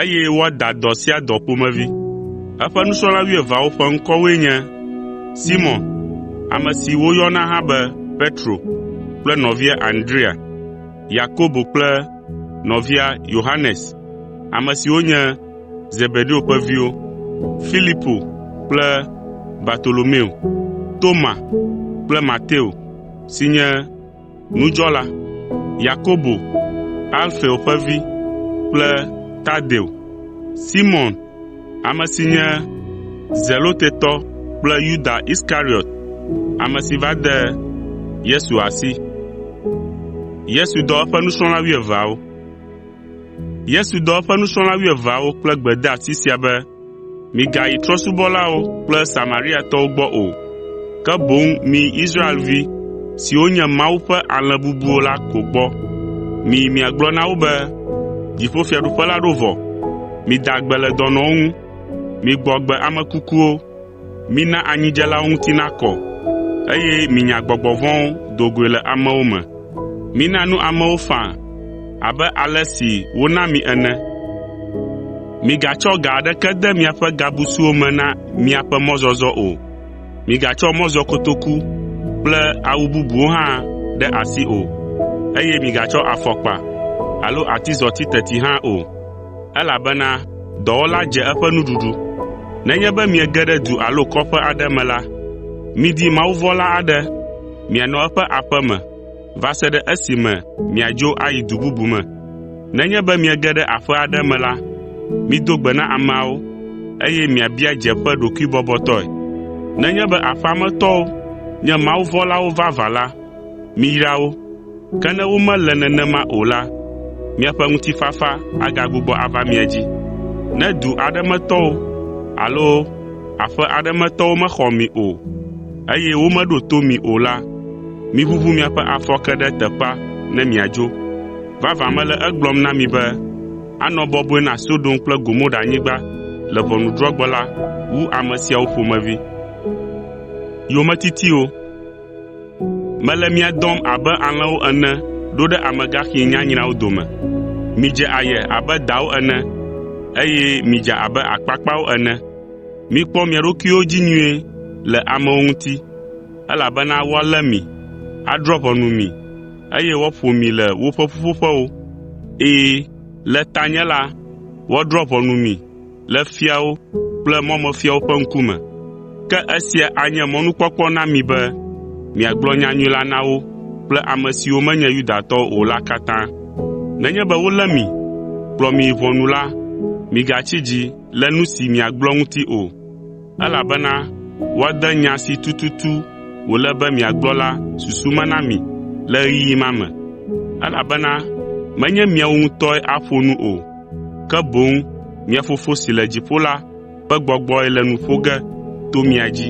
eye woada dɔ sia dɔ ƒomevi. Eƒe nusrɔ̃la wuieveawo ƒe ŋkɔwoe nye: Simɔn (ame si woyɔna hã be Petro) kple nɔvia Andrea, Yakobo kple nɔvia Yohanes, ame siwo nye Zebedeo ƒe viwo, Filipo kple Bartolomeo, Toma kple Mateo si nye nudzɔla, Yakobo, Alfeo ƒe vi kple Tadeo, Simɔn, ame si nye Zelotetɔ kple Yuda Iskariɔt, ame si va de Yesu asi. Yesu dɔ eƒe nusrɔ̃la wuieveawo kple gbedeasi sia be, “Migayi trɔ̃subɔlawo kple Samariatɔwo gbɔ o, ke boŋ miyi Israelvi siwo nye Mawu ƒe alẽ bubuwo la ko gbɔ. Miyi miagblɔ na wo be, ‘Dziƒofiaɖuƒe la ɖo vɔ. Mida gbe le dɔnɔwo ŋu. Migbɔ agbe ame kukuwo, Mina anyidzelawo ŋuti nakɔ, eye minya gbɔgbɔ vɔ̃wo do goe le amewo me. Mina nu amewo faa abe ale si wona mi ene. Migatsɔ ga aɖeke de miaƒe gabusuwo me na miaƒe mɔzɔzɔ o. Migatsɔ mɔzɔkotoku kple awu bubuwo hã ɖe asi o, eye migatsɔ afɔkpa alo atizɔti teti hã o. elabena dɔwɔla dze eƒe nuɖuɖu. Nenye be miege ɖe du alo kɔƒe aɖe me la, midi mawuvɔ̃la aɖe mianɔ eƒe aƒe me va se ɖe esime miadzo ayi du bubu me. Nenye be miege ɖe aƒe aɖe me la, mido gbe na ameawo, eye miabia dze ƒe ɖokuibɔbɔtɔe. Nenye be aƒea me tɔwo nye mawuvɔ̃lawo vavã la, miyra wo. Ke ne womele nenema o la, miaƒe ŋutifafa agagbugbɔ ava mia dzi. Ne du aɖe me tɔwo alo aƒe aɖe me tɔwo mexɔ mi o, eye womeɖo to mi o la, miʋuʋu miaƒe afɔke ɖe teƒea ne miadzo. Vavã mele egblɔm na mi be, anɔ bɔbɔe na Sodom kple Gomoranyigba le ʋɔnudrɔ̃gbe la wu ame siawo ƒomevi. Mele mia dɔm abe alẽwo ene ɖo ɖe amegaxi nyanyrawo dome. Midze aye abe dawo ene, eye midza abe akpakpawo ene. Mikpɔ mia ɖokuiwo dzi nyuie le amewo ŋuti, elabena woalé mi, adrɔ̃ ʋɔnu mi, eye woaƒo mi le woƒe ƒuƒoƒewo. Ɛ̃, le tanye la, woadrɔ̃ ʋɔnu mi. le fiawo kple mɔmefiawo ƒe ŋkume. Ke esia anye mɔnukpɔkpɔ na mi be miagblɔ nyanyui la na wo kple ame siwo menye Yudatɔwo o la katã. Nenye be wolé mi, kplɔ mi yi ʋɔnu la, migatsi dzi le nu si miagblɔ ŋuti o, elabena woade nya si tututu wòle be miagblɔ la susu me na mi le ɣeyiɣi ma me, elabena menye miawo ŋutɔe aƒo nu o. ke boŋ mia Fofo si le dziƒo la ƒe gbɔgbɔe le nu ƒo ge to mia dzi.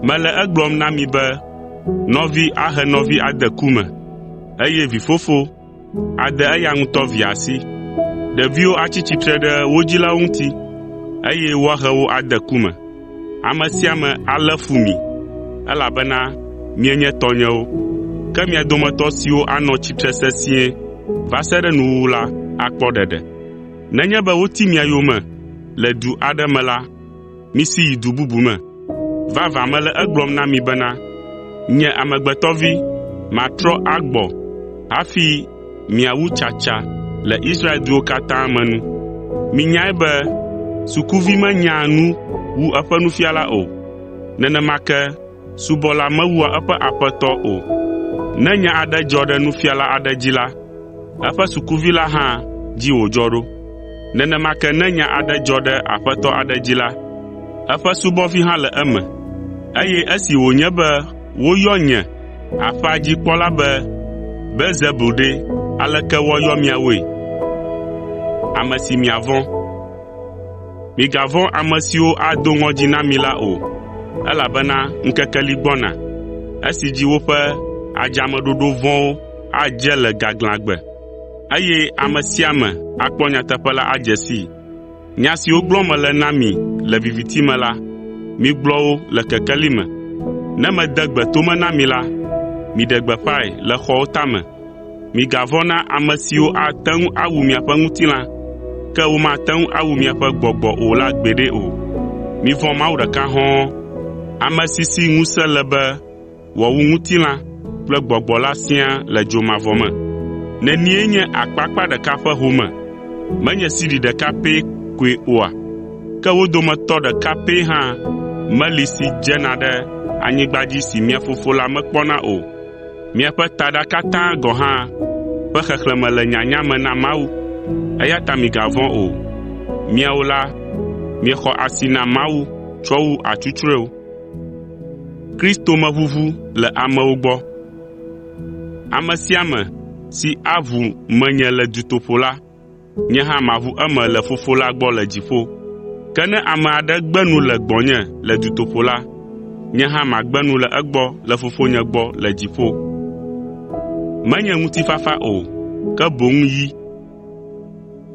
Mele egblɔm na mi be nɔvi ahe nɔvi ade ku me, eye vifofo ade eya ŋutɔ via asi. Ɖeviwo atsi tsitre ɖe wo dzilawo ŋuti, eye woahe wo ade ku me. Ame sia ame alé fu mi, elabena mienye tɔnyewo. Ke mia dometɔ siwo anɔ tsitre sesĩe va se ɖe nuwuwu la akpɔ ɖeɖe. Nenye be woti mia yome le du aɖe me la, misi yi du bubu me. Vavã mele egblɔm na mi bena, Nye Amegbetɔ Vi, matrɔ agbɔ hafi miawu tsatsa le Israel duwo katã me nu. Minyae be sukuvi menyaa nu wu eƒe nufiala o, nenema ke subɔla mewua eƒe aƒetɔ o. Ne nya aɖe dzɔ ɖe nufiala aɖe dzi la, eƒe sukuvi la hã dzi wòdzɔ ɖo. Nenema ke ne nya aɖe dzɔ ɖe aƒetɔ aɖe dzi la, eƒe subɔvi hã le eme. Eye esi wònye be woyɔ nye Aƒea dzi kpɔla be, “Belzebul ɖe, aleke woayɔ miawoe? Ame si miavɔ̃. Migavɔ̃ ame siwo ado ŋɔdzi na mi la o, elabena ŋkeke li gbɔna, esi dzi woƒe adzameɖoɖo vɔ̃wo adze le gaglãgbe, eye ame sia ame akpɔ nyateƒe la adze sii. Nya siwo gblɔm mele na mi le viviti me la, migblɔ wo le kekeli me. Ne mede gbe to me na mi la, miɖe gbeƒãe le xɔwo tame. Migavɔ̃ na ame siwo ate ŋu awu miaƒe ŋutilã, ke womate ŋu awu miaƒe gbɔgbɔ o la gbeɖe o. Mivɔ̃ Mawu ɖeka hɔ̃ɔ, ame si si ŋusẽ le be wòawu ŋutilã kple gbɔgbɔ la siaa le dzo mavɔ me. Nenie nye akpakpa ɖeka ƒe home? Menye sidi ɖeka pɛ koe oa? Ke wo dometɔ ɖeka pɛ hã meli si dzena ɖe anyigba dzi si mia Fofo la mekpɔna o. Miaƒe taɖa katã gɔ̃ hã ƒe xexlẽme le nyanya me na Mawu. Eya ta migavɔ̃ o. Miawo la, miexɔ asi na Mawu tsɔ wu atsutsrɔewo. Ame sia ame si aʋu menye le dutoƒo la, nye hã maʋu eme le Fofo la gbɔ le dziƒo. Ke ne ame aɖe gbe nu le gbɔnye le dutoƒo la, nye hã magbe nu le egbɔ le Fofonye gbɔ le dziƒo.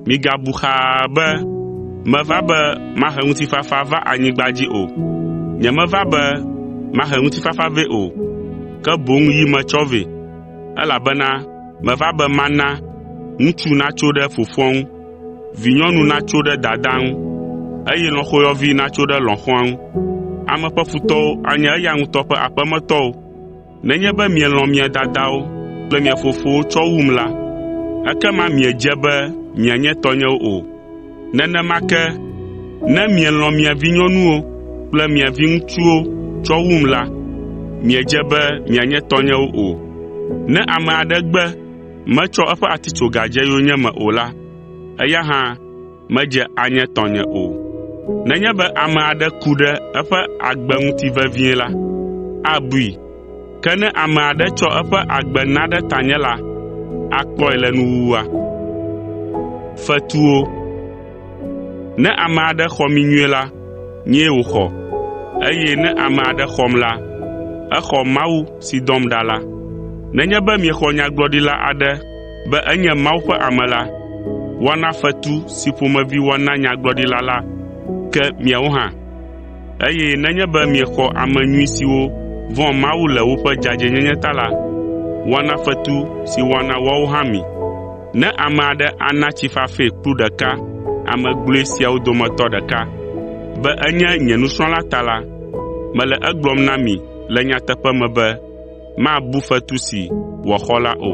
“Migabu xaa be meva be mahe ŋutifafa va anyigba dzi o. Nyemeva be mahe ŋutifafa vɛ o, ke boŋ yi metsɔ vɛ, elabena meva be mana ‘ŋutsu natso ɖe fofoa ŋu, vinyɔnu natso ɖe dadaa ŋu, eye lɔ̃xoyɔvi natso ɖe lɔ̃xoa ŋu.’ Ame ƒe futɔwo anye eya ŋutɔ ƒe aƒemetɔwo. “Nenye be mielɔ̃ mia dadawo kple mia fofowo tsɔ wum la, ekema miedze be mianye tɔnyewo o. Nenema ke ne mielɔ̃ mia vinyɔnuwo kple mia viŋutsuwo tsɔ wum la, miedze be mianye tɔnyewo o. Ne ame aɖe gbe metsɔ eƒe atitsoga dze yonyeme o la, eya hã medze anye tɔnye o. Nenye be ame aɖe ku ɖe eƒe agbe ŋuti vevie la, abui. Ke ne ame aɖe tsɔ eƒe agbe na ɖe tanye la, akpɔe le nuwuwua. Ne ame aɖe xɔ mí nyuie la, nyee wòxɔ, eye ne ame aɖe xɔm la, exɔ Mawu si dɔm ɖa la. Nenye be miexɔ nyagblɔɖila aɖe be enye Mawu ƒe ame la, woana fetu si ƒomevi woana nyagblɔɖila la ke miawo hã. Eye nenye be miexɔ ame nyui siwo vɔ̃a Mawu le woƒe dzadzɛnyenye ta la, woana fetu si woana woawo hã mi. Ne ame aɖe ana tsi fafɛ kplu ɖeka ame gblɔe siawo dometɔ ɖeka be enye nye nusrɔ̃la ta la, mele egblɔm na mi le nyateƒe me be mabu fetu si wòaxɔ la o.